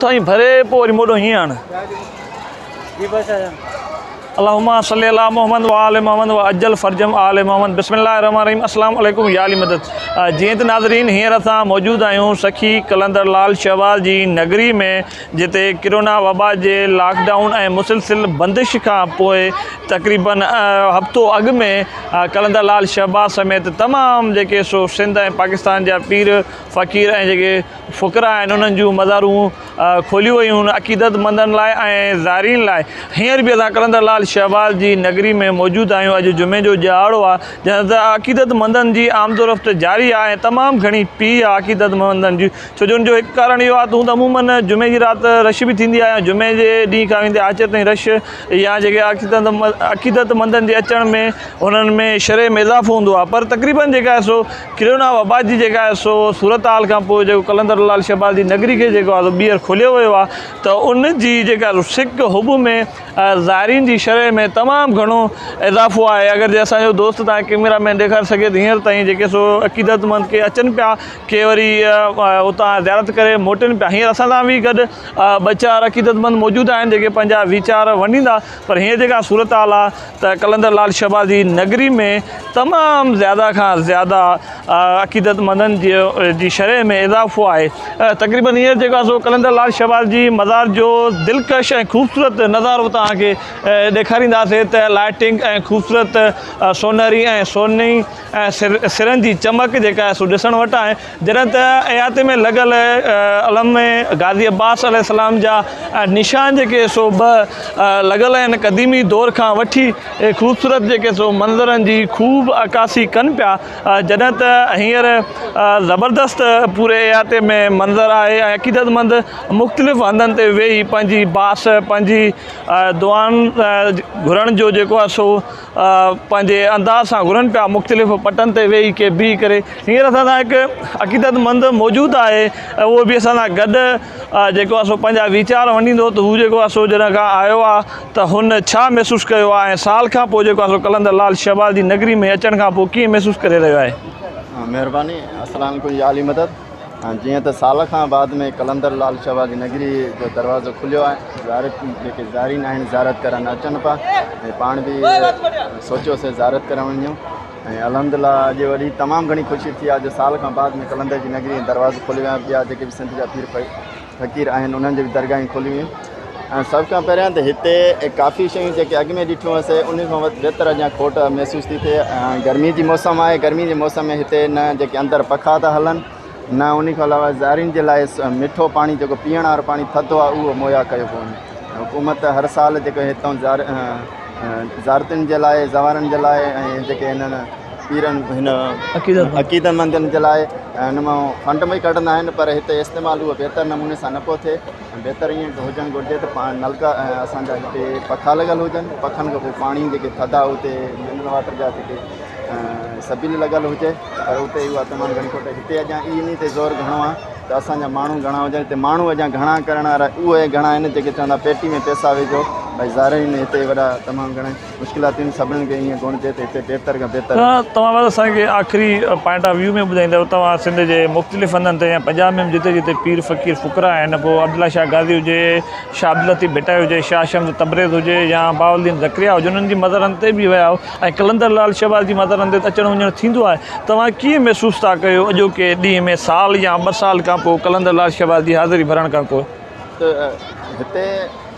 سائين ڀري پو وري موڏو هيئن آڻ. اللهم صلي علي محمد وآل محمد وعجل فرجهم آل محمد بسم الله الرحمن الرحيم السلام عليڪم يا علي مدد جيئن ته ناظرين هينئر اسان موجود آهيون سخي قلندر لال شهباز جي نگري ۾ جتي ڪرونا وبا جي لاڪ ڊائون ۽ مسلسل بندش کان پوء تقريبا هفتو اڳ ۾ قلندر لال شهباز سميت تمام جيڪي سو سنڌ ۽ پاڪستان جا پير فقير ۽ جيڪي فقرا ۽ انهن جون مزارون کوليون ويون عقيدت مندن لاء ۽ زائرين لاء هينئر به اسان قلندر لال شهباز جي نگري ۾ موجود آهيون اڄ جمعي جو ڄهاڙو آهي جنهن تي عقيدت مندن جي آمدورفت جاري آهي ۽ تمام گهڻي پي آهي عقيدت مندن جي ڇو جو ان جو هڪ ڪارڻ اهو آهي ته هون ته عموما جمعي جي رات رش به ٿيندي آهي ۽ جمعي جي ڏينهن کان ويندي آچر تائين رش يا جيڪي عقيدت مندن جي اچڻ ۾ انهن ۾ شرح ۾ اضافو هوندو آهي پر تقريبن جيڪا سو ڪرونا وبا جي جيڪا آهي سو صورتحال کان پوء جيڪو قلندر لعل شهباز جي نگري کي جيڪو آهي سو ٻيهر کوليو ويو آهي ته ان جي جيڪا سڪ حب ۾ زائرين جي شرح ۾ تمام گهڻو اضافو آهي اگر جي اسان جو دوست تان ڪيميرا مين ڏيکاري سگهي ته هينئر تائين جيڪي سو عقيدت مند ڪي اچن پيا ڪي وري اتان زيارت ڪري موٽن پيا هينئر اسان سان به گڏ ٻه چار عقيدت مند موجود آهن جيڪي پنهنجا ويچار ونڊيندا پر هينئر جيڪا صورتحال آ ته قلندر لال شهباز جي نگري ۾ تمام زياده کان زياده عقيدت مندن جي شرح ۾ اضافو آهي تقريبن هينئر جيڪو آ سو قلندر لال شهباز جي مزار جو دلڪش ۽ خوبصورت نظارو توهان کي ڏيکارينداسين ته لائٽنگ ۽ خوبصورت سونهري ۽ سونهني سرن جي چمڪ جيڪا آهي سو ڏسڻ وٽ آهي جڏهن ته احاطي ۾ لڳل علم ۾ غازي عباس عليه السلام جا نشان جيڪي سو به لڳل آهن قديمي دور کان وٺي خوبصورت جيڪي سو منظرن جي خوب عڪاسي ڪن پيا جڏهن ته هينئر زبردست پوري احاطي ۾ منظر آهي ۽ عقيدت مند مختلف هنڌن تي ويهي پنهنجي باس پنهنجي دعائن گهرڻ جو جيڪو آهي سو پنهنجي انداز سان گهرن پيا مختلف پٽن تي ويهي ڪي بيهي ڪري هينئر اسان سان هڪ عقيدت مند موجود آهي ۽ اهو به اسان سان گڏ جيڪو آهي سو پنهنجا ويچار ونڊيندو ته هو جيڪو آهي سو جڏهن کان آيو آهي ته هن ڇا محسوس ڪيو آهي ۽ سال کان پوء جيڪو آهي سو قلندر لال شهباز جي نگري ۾ اچڻ کان پوء ڪيئن محسوس ڪري رهيو آهي. مهرباني اسلام ڪنج عالي مدد. جيئن ته سال کان بعد ۾ قلندر لال شاهه جي نگري جو دروازو کليو آهي زيارت جيڪي زائرين آهن زيارت ڪرڻ اچن پا ۽ پاڻ به سوچيو سي زيارت ڪرڻ وڃون ۽ الحمد لله اڄ وڏي تمام گھڻي خوشي ٿي آهي جو سال کان بعد ۾ قلندر جي نگري دروازو کليو آهي ٻيا جيڪي به سنڌ جا پير فقير آهن انهن جي به درگاهيون کوليون ويون ۽ سڀ کان پهريان ته هتي ڪافي شيون جيڪي اڳ ۾ ڏٺيون هئس انهن کان بهتر اڃا کوٽ محسوس ٿي ٿئي ۽ گرمي جي موسم آهي گرمي جي موسم ۾ هتي نه جيڪي اندر پکا ٿا هلن نه ان کان علاوه زائرين جي لاء مٺو پاڻي جيڪو پيئڻ وارو پاڻي ٿڌو آهي اهو مهيا ڪيو پيو وڃي حڪومت هر سال جيڪو هتان زائرين جي لاء زوارن جي لاء ۽ جيڪي هنن پيرن هن عقيدتمندن جي لاء ان مان فنڊ به ڪڍندا آهن پر هتي استعمال اهو بهتر نموني سان نه پيو ٿئي ۽ بهتر ائين هجڻ گهرجي ته پاڻ نلڪا ۽ اسان جا هتي پکا لڳل هجن پکن کان پوء پاڻي جيڪي ٿڌا هتي منرل واٽر جا جيڪي سبيل لڳل هجي پر هتي اها تمام گهڻي کوٽ هتي اڄان اي انهي تي زور گهڻو آهي ته اسان جا ماڻهو گهڻا هجن هتي ماڻهو اڄان گهڻا ڪرڻ وارا اهي گهڻا آهن جيڪي چوندا پيٽي ۾ پيسا وجهو ڀاء زارين هتي وڏا تمام گهڻا مشڪلاتين سڀني کي ائين ڪونه چئي ته هتي بهتر کان بهتر ته توهان بس اسان کي آخري پوائنٽ آف ويو ۾ ٻڌائيندؤ توهان سنڌ جي مختلف هنڌن تي يا پنجاب ۾ به جتي جتي پير فقير فقرا آهن پوء عبدالله شاهه غازي هجي شاهه عبداللطيف ڀٽائي هجي شاهه شمس تبريز هجي يا بهاء الدين ذڪريا هجي انهن جي مزارن تي به ويا آهيو ۽ قلندر لال شهباز جي مزارن تي ته اچڻ وڃڻ ٿيندو آهي توهان ڪيئن محسوس ٿا ڪيو اڄوڪي ڏينهن ۾ سال يا ٻه سال کان پوء قلندر لال شهباز جي حاضري ڀرڻ کان پوء ته هتي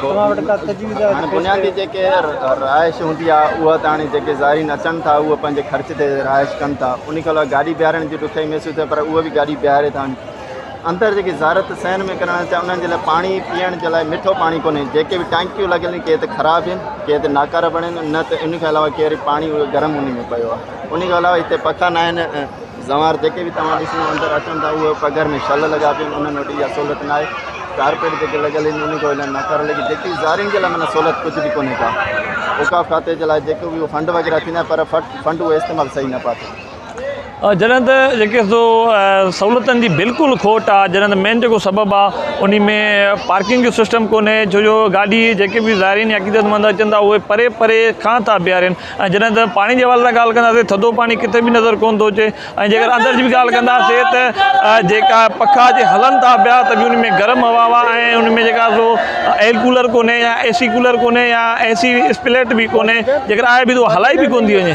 توهان وٽ ڪا تجويز آهي ته پيش ڪريو. هاڻي بنيادي جيڪي رهائش هوندي آهي اها ته هاڻي جيڪي زائرين اچن ٿا اهي پنهنجي خرچ تي رهائش ڪن ٿا ان کان علاوه گاڏي بيهارڻ جي ڏکيائي محسوس ٿئي پر اهي به گاڏي بيهاري ٿا هاڻي اندر جيڪي زيارت صحن ۾ ڪرڻ اچي انهن جي لاء پاڻي پيئڻ جي لاء مٺو پاڻي ڪونهي جيڪي به ٽانڪيون لڳل آهن ڪي ته خراب آهن ڪي ته ناڪارا بڻيل آهن نه ته ان کان علاوه ڪير پاڻي اهو گرم انهي ۾ پيو آهي ان کان علاوه هتي پکا ناهن زنوار جيڪي به توهان ڏسندا اندر اچن ٿا اهي پگهر ۾ شل لڳا پيا آهن انهن وٽ اها سهولت ناهي ڪارپيٽ جيڪي لڳل آهن انهن کي هلائڻ ناڪاره لڳي جيڪي زارين جي لاء معنيٰ سهولت ڪجهه به ڪونهي ڪا اوقاف کاتي جي لاء جيڪو به اهو فنڊ وغيره ٿيندا آهن پر فٽ فنڊ اهو استعمال صحيح نه پيا ٿين جڏهن ته جيڪي سو سهولتن جي بلڪل کوٽ آهي جڏهن ته مين جيڪو سبب آهي ان ۾ پارڪنگ جو سسٽم ڪونهي ڇو جو گاڏي جيڪي به زائرين يا عقيدت مند اچن ٿا اهي پري پري کان ٿا بيهارين ۽ جڏهن ته پاڻي جي حوالي سان ڳالهه ڪنداسين ٿڌو پاڻي ڪٿي به نظر ڪونه ٿو اچي ۽ جيڪر اندر جي به ڳالهه ڪنداسين ته جيڪا پکا جي هلن ٿا پيا ته به ان ۾ گرم هوا واه ۽ ان ۾ جيڪا سو ايئر ڪولر ڪونهي يا اي سي ڪولر ڪونهي يا اي سي اسپليٽ به ڪونهي جيڪر آهي به ته هلائي به ڪونه ٿي وڃي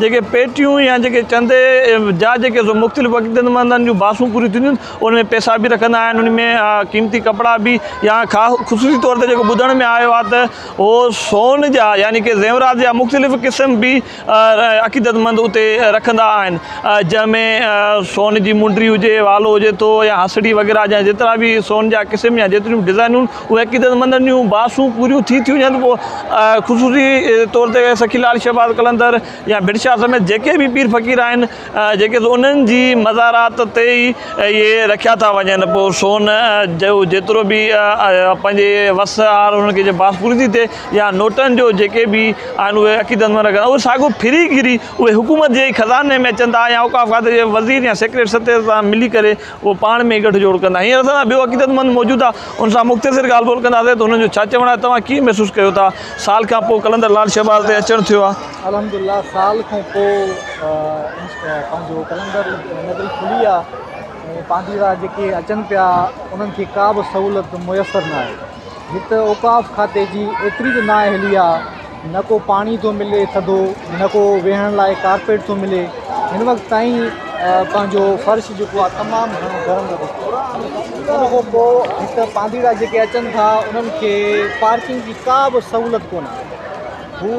جيڪي پيٽيون يا جيڪي چندي جا جيڪي سو مختلف عقيدت مندن جون باسون پوريون ٿينديون آهن ان ۾ پيسا به رکندا آهن ان ۾ قيمتي ڪپڙا به يا خاص خصوصي طور تي جيڪو ٻڌڻ ۾ آيو آهي ته هو سون جا يعني ڪي زيورات جا مختلف قسم به عقيدت مند اتي رکندا آهن جنهن ۾ سون جي منڊري هجي والو هجي ٿو يا هسڙي وغيره جا جيترا به سون جا قسم يا جيتريون به ڊزائنون اهي عقيدت مندن جون باسون پوريون ٿي ٿيون وڃن ته پوء خصوصي طور تي سخي لال شهباز قلندر يا ڀٽ شاهه سميت جيڪي به پير فقير آهن جيڪي سو انهن جي مزارات تي ئي اهي رکيا ٿا وڃن پوء سون جو جيترو به پنهنجي وس آهر انهن کي جي باس پوري ٿي ٿئي يا نوٽن جو جيڪي به آهن اهي عقيدت مند رکن اهي ساڳيو ڦري گهري اهي حڪومت جي ئي خزاني ۾ اچن ٿا يا اوقاف کاتي جي وزير يا سيڪريٽري ستي سان ملي ڪري اهو پاڻ ۾ ڳٺ جوڙ ڪندا. هينئر اسان سان ٻيو عقيدتمند موجود آ، ان سان مختصر ڳالهه ٻولهه ڪنداسين ته هنن جو ڇا چوڻ آهي، توهان ڪيئن محسوس ڪيو ٿا؟ سال کان پوء قلندر لال شهباز تي اچڻ ٿيو آ. الحمدلله سال کان پوء پنهنجو قلندر نگري کلي آ ۽ پانڌيرا جيڪي اچن پيا انهن کي ڪا به سهولت ميسر ناهي. هت اوقاف کاتي جي ايتري ته نااهلي آ. نه ڪو پاڻي ٿو ملي ٿڌو، نه ڪو ويهڻ لاء ڪارپيٽ ٿو ملي، هن وقت تائين پنهنجو فرش جيڪو آهي تمام گهڻو گرم لڳو پيو آهي، ان کان پوء هت پانڌيئڙا جيڪي اچن ٿا انهن کي پارڪنگ جي ڪا به سهولت ڪونه آهي، هو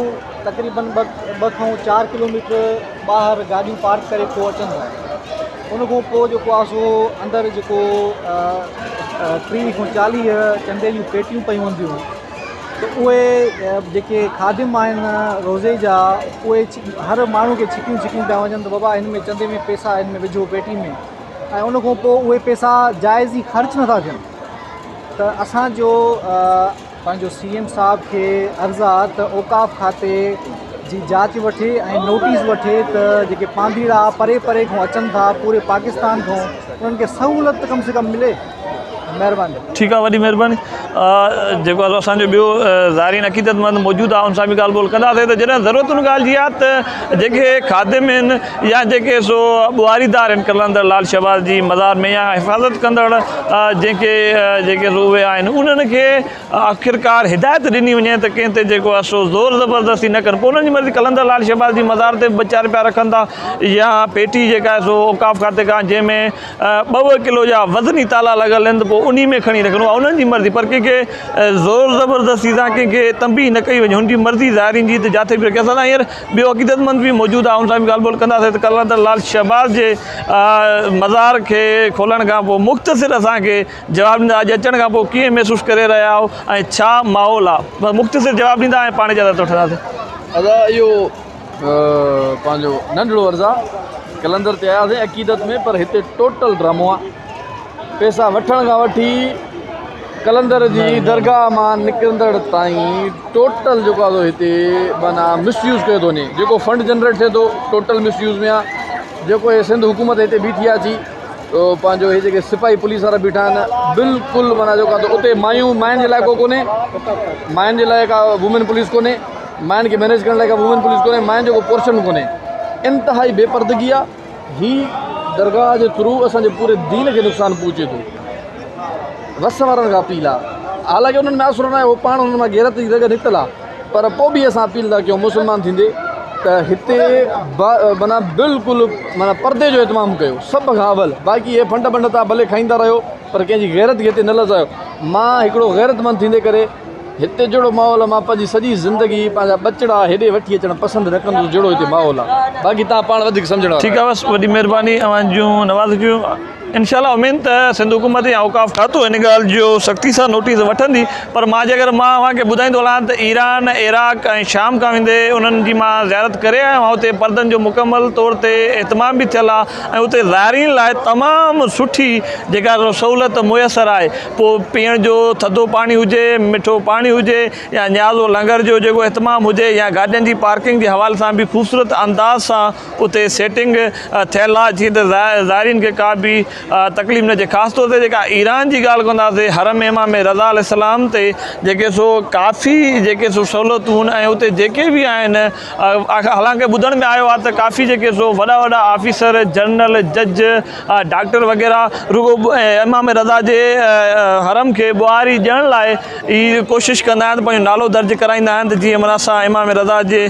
تقريبن ٻه کان چار ڪلوميٽر ٻاهر گاڏيون پارڪ ڪري پوء اچن ٿا، ان کان پوء جيڪو آهي سو اندر جيڪو ٽيهه کان چاليهه چندي جون پيٽيون پيون هونديون. ته اهي جيڪي خادم آهن روزي جا اهي هر ماڻهو کي ڇڪيون ڇڪيون پيا وڃن ته بابا هن ۾ چندي ۾ پيسا هن ۾ وجهو پيٽي ۾ ۽ ان کان پوء اهي پيسا جائز ئي خرچ نٿا ٿين ته اسانجو پنهنجو سي ايم صاحب کي عرض آهي ته اوقاف کاتي جي جاچ وٺي ۽ نوٽيس وٺي ته جيڪي پانڌيئڙا پري پري کان اچن ٿا پوري پاڪستان کان انهن کي سهولت ته ڪم سي ڪم ملي مهرباني. ٺيڪ آ وڏي مهرباني. جيڪو اسان جو ٻيو زائرين عقيدت مند موجود آ ان سان به ڳالھ ٻولھ ڪندا سي ته جڏهن ضرورت ان ڳالھ جي آ ته جيڪي خادم آهن يا جيڪي سو ٻوهاري دار آهن قلندر لال شهباز جي مزار ۾ يا حفاظت ڪندڙ جنهن کي جيڪي سو اهي آهن انهن کي آخرڪار هدايت ڏني وڃي ته ڪنهن تي جيڪو آ سو زور زبردستي نه ڪن پوء انهن جي مرضي قلندر لال شهباز جي مزار تي به ٻه چار پيا رکن ٿا يا پيٽي جيڪا آهي سو اوقاف کاتي کان جنهن ۾ ٻه ٻه ڪلو جا وزني تالا لڳل آهن ته پوء انهي ۾ کڻي رکڻو آهي انهن جي مرضي پر ڪنهن کي زور زبردستي سان ڪنهن کي تنبيهه نه ڪئي وڃي هن جي مرضي ظاهرين جي ته جاٿي به رکي اسان سان هينئر ٻيو عقيدت مند به موجود آهي ان سان به ڳالهه ٻولهه ڪنداسين ته ڪلندر لال شهباز جي مزار کي کولڻ کان پوء مختصر اسان کي جواب ڏيندا اڄ اچڻ کان پوء ڪيئن محسوس ڪري رهيا آهيو ۽ ڇا ماحول آهي مختصر جواب ڏيندا ۽ پاڻ اجازت وٺنداسين ادا اهو پنهنجو ننڍڙو عرض آ قلندر تي آياسين عقيدت ۾ پر هتي ٽوٽل ڊرامو آ پيسا وٺڻ کان وٺي قلندر جي درگاهه مان نڪرندڙ تائين ٽوٽل جيڪو آ هتي معنيٰ مس يوز ڪيو ٿو وڃي جيڪو فنڊ جنريٽ ٿئي ٿو ٽوٽل مس يوز ۾ آ جيڪو هي سنڌ حڪومت هتي بيٺي آ جي پنهنجو هي جيڪي سپاهي پوليس وارا بيٺا آهن بلڪل معنيٰ جيڪو آ اتي مايون ماين جي لاء ڪو ڪونهي ماين جي لاء ڪا وومين پوليس ڪونهي مائن کي مينيج ڪرڻ لاء ڪا وومين پوليس ڪونهي مائن جو ڪو پورشن ڪونهي انتهائي بي پردگي آ هي درگاهه جي ٿرو اسان جي پوري دين کي نقصان پهچي ٿو وس وارن کان اپيل آ حالانڪه انهن ۾ اثر ناهي هو پاڻ انهن مان غيرت جي رڳ نڪتل آ پر پوء به اسان اپيل ٿا ڪيون مسلمان ٿيندي ته هتي مانا بلڪل مانا پردي جو اهتمام ڪيو سڀ کان اول باقي هي ڦنڊ بنڊ تان ڀلي کائيندا رهيو پر ڪنهن جي غيرت کي هتي نه لزايو مان هڪڙو غيرت مند ٿيندي ڪري هتي جهڙو ماحول آهي مان پنهنجي سڄي زندگي پنهنجا ٻچڙا هيڏي وٺي اچڻ پسند نه ڪندس جهڙو هتي ماحول آهي باقي توهان پاڻ وڌيڪ سمجهڻ وارا ٺيڪ آهي بس وڏي مهرباني اوهان جون نوازشون انشاء الله امين ته سنڌ حڪومت يا اوقاف کاتو ان ڳالهه جو سختي سان نوٽيس وٺندي پر مان جيڪر مان اوهان کي ٻڌائيندو هلان ته ايران عراق ۽ شام کان ويندي انهن جي مان زيارت ڪري آيو آهيان اتي پردن جو مڪمل طور تي اهتمام به ٿيل آهي ۽ اتي زائرين لاء تمام سٺي جيڪا سهولت ميسر آهي پوء پيئڻ جو ٿڌو پاڻي هجي، مٺو پاڻي هجي يا نيازو لنگر جو جيڪو اهتمام هجي يا گاڏين جي پارڪنگ جي حوالي سان به خوبصورت انداز سان اتي سيٽنگ ٿيل آهي جيئن ته زائرين کي ڪا به تڪليف نه اچي خاص طور تي جيڪا ايران جي ڳالهه ڪنداسين حرم امام رضا عليه السلام تي جيڪي سو ڪافي جيڪي سو سهولتون ۽ اتي جيڪي به آهن حالانڪ ٻڌڻ ۾ آيو آهي ته ڪافي جيڪي سو وڏا وڏا آفيسر، جنرل، جج، ڊاڪٽر وغيره رڳو امام رضا جي حرم کي ٻهاري ڏيڻ لاء ئي ڪوشش ڪندا آهن ته پنهنجو نالو درج ڪرائيندا آهن ته جيئن معنيٰ اسان امام رضا جي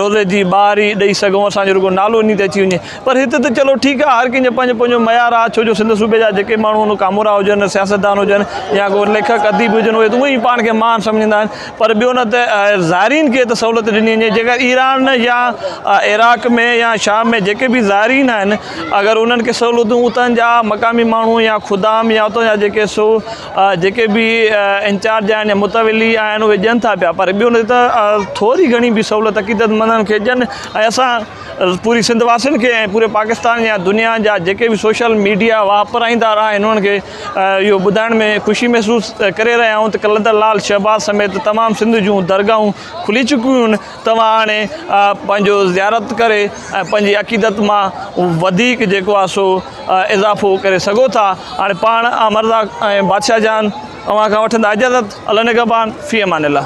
روضي جي ٻهاري ڏئي سگهون اسان جو رڳو نالو انهي تي اچي وڃي پر هت ته چلو ٺيڪ آهي هر ڪنهن جو پنهنجو پنهنجو معيار آهي ڇو جو سنڌ صوبي جا جيڪي ماڻهو آهن ڪامورا هجن سياستدان هجن يا ڪو ليکڪ اديب هجن اهي ته اونئي پاڻ کي مهان سمجهندا آهن. پر ٻيو نه ته زائرين کي ته سهولت ڏني وڃي جيڪر ايران يا عراق ۾ يا شام ۾ جيڪي به زائرين آهن اگر انهن کي سهولتون اتان جا مقامي ماڻهو يا خدام يا اتان جا جيڪي سو جيڪي به انچارج آهن يا متولي آهن اهي ڏين ٿا پيا پر ٻيو نه ته ٿوري گهڻي به سهولت عقيدت مندن کي ڏين ۽ اسان پوري سنڌ واسين کي ۽ پوري پاڪستان يا دنيا جا جيڪي به سوشل ميڊيا واپرائيندار آهن انهن کي اهو ٻڌائڻ ۾ خوشي محسوس ڪري رهيا آهيون ته قلندر لال شهباز سميت تمام سنڌ جون درگاهون کلي چڪيون آهن توهان هاڻي پنهنجو زيارت ڪري ۽ پنهنجي عقيدت مان وڌيڪ جيڪو آهي سو اضافو ڪري سگهو ٿا هاڻي پاڻ آء مرزا ۽ بادشاهه جان اوهان کان وٺندا اجازت الله نگهبان في امان الله.